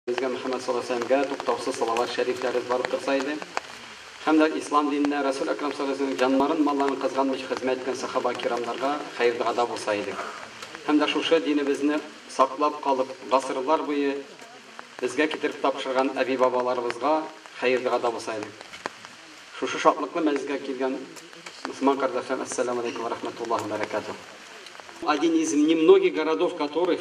Безгә Мөхәммәд саллаллаһу галәйһи ва сәлләмгә туктаусыз салават шәрифләребез барып торса иде. Һәм дә Ислам диненә, Рәсүл Әкрам саллаллаһу галәйһи ва сәлләмнең җаннарын, малларын кызганмыйча хезмәт иткән сәхабә-кирамнарга хәер-догада булса иде. Һәм дә шушы динебезне саклап калып, гасырлар буе безгә китереп тапшырган әби-бабаларыбызга хәер-догада булса иде. Шушы шатлыклы мәҗлескә килгән мөселман кардәшләрем, Әссәләмү галәйкүм вә рәхмәтуллаһи вә бәрәкәтүһ. Один из немногих городов которых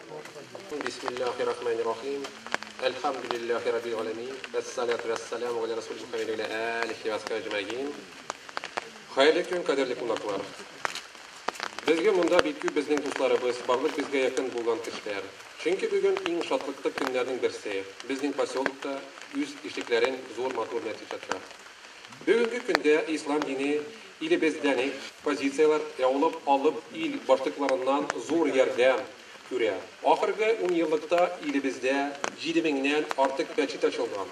Бисмиллаһи рахмани рахим. Әлхәмдүлиллаһи раббил галәмин. Вәссалату вәссәламу галә рәсүлил мөхәммәди ва галә әлихи ва асхабихи әҗмәгин. Хәерле көн, кадерле кунаклар. Безгә монда бик күп безнең дусларыбыз, барлык безгә якын булган кешеләр. Чөнки бүген иң шатлыклы көннәрнең берсе, безнең поселокта үз ишекләрен зур матур мәчет ача. Бүгенге көндә ислам дине Илебездән экспозицияләр яулык алып ил башлыкларыннан зур ярдәм күрә. Ахыргы унъеллыкта илебездә җиде меңнән артык мәчет ачылган.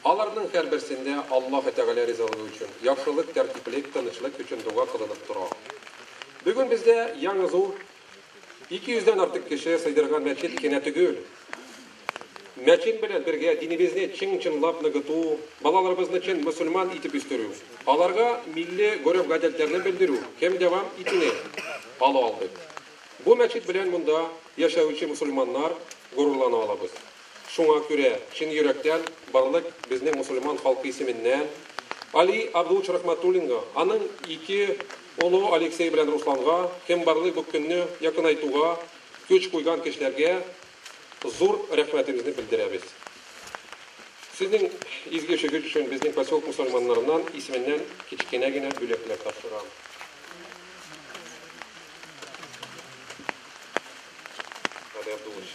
Аларның һәрберсендә Аллаһы Тәгалә ризалыгы өчен, яхшылык, тәртиплек, тынычлык өчен дога кылынып тора. Бүген бездә яңа зур 200 дән артык кеше сыйдырган мәчет кенә төгел. Мәчет белән бергә динебезне чың-чынлап ныгыту, балаларыбызны чын мөселман итеп үстерү, аларга милли гореф-гадәтләрне белдерү һем дәвам итүне ала алдык. Бу мәчет белән монда яшәүче мөселманнар горурлана алабыз. Шуңа күрә чын йөрәктән барлык безнең мөселман халкы исеменнән Али Абдуллович Рахматуллинга, аның ике Олы Алексей белән Русланга, кем барлый бу көнне якынайтуга көч куйган кешеләргә зур рәхмәтебезне белдерәбез. Сезнең изге эшегез өчен безнең поселок мусульманнарыннан исеменнән кечкенә генә бүләкләр тапшырам. Валерий Абдуллович.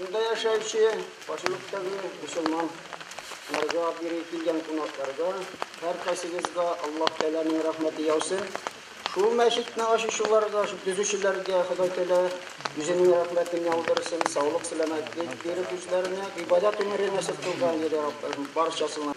Шунда яшәүче поселоктагы мусульман нарга бире килгән кунакларга һәркайсыгызга Аллаһ Тәгаләнең рәхмәте яусын. Шул мәчетне ачучыларга, төзүчеләргә Ходай Тәгалә үзенең рәхмәтен яудырсын, саулык, сәламәтлек биреп үзләренә, гыйбадәт гомере насыйп кылган иде Раббым барчасына.